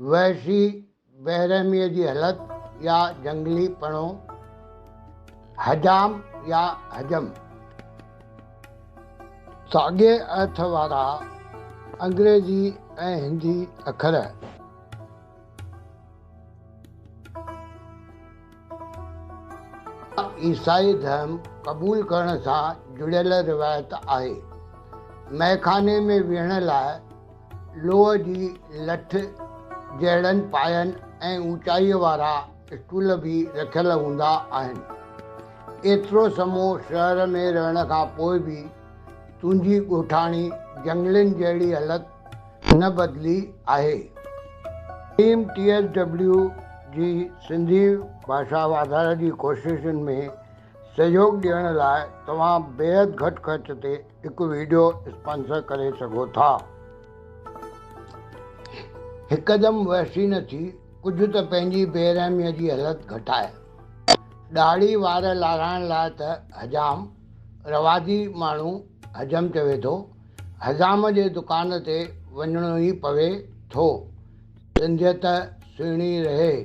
وحشي بيرحميء جي هلت يا جهنگلي پڻو، حجام يا حجم. ساڳئي ارٿ وارا انگريزي ۽ هندي اکر. عيسائي ڌرم قبول ڪرڻ سان جڙيل روايت آهي. مئخاني ۾ ويهڻ لاء. لوهه جي لٺ جهڙن پاين ۽ اوچائيء وارا اسٽول به رکيل هوندا آهن. ايترو سمو شهر ۾ رهڻ کان پوء به تنهنجي ڳوٺاڻي جهنگلين جهڙي هلت نه بدلي آهي. ٽيم ٽي ايس ڊبليو جي سنڌي ڀاشا واڌاري جي ڪوششن ۾ سهيوڳ ڏيڻ لاء توهان بيحد گهٽ خرچ تي هڪ ويڊيو اسپانسر ڪري سگهو ٿا. هڪدم وحشي نه ٿي، ڪجهه ته پنهنجي بي رحميء جي حلت گهٽاء. ڏاڙهي وار لارائڻ لاء ته حجام، رواجي ماڻهو حجم چوي ٿو، حجام جي دڪان تي وڃڻو ئي پوي ٿو. سنڌيت سهڻي رهي.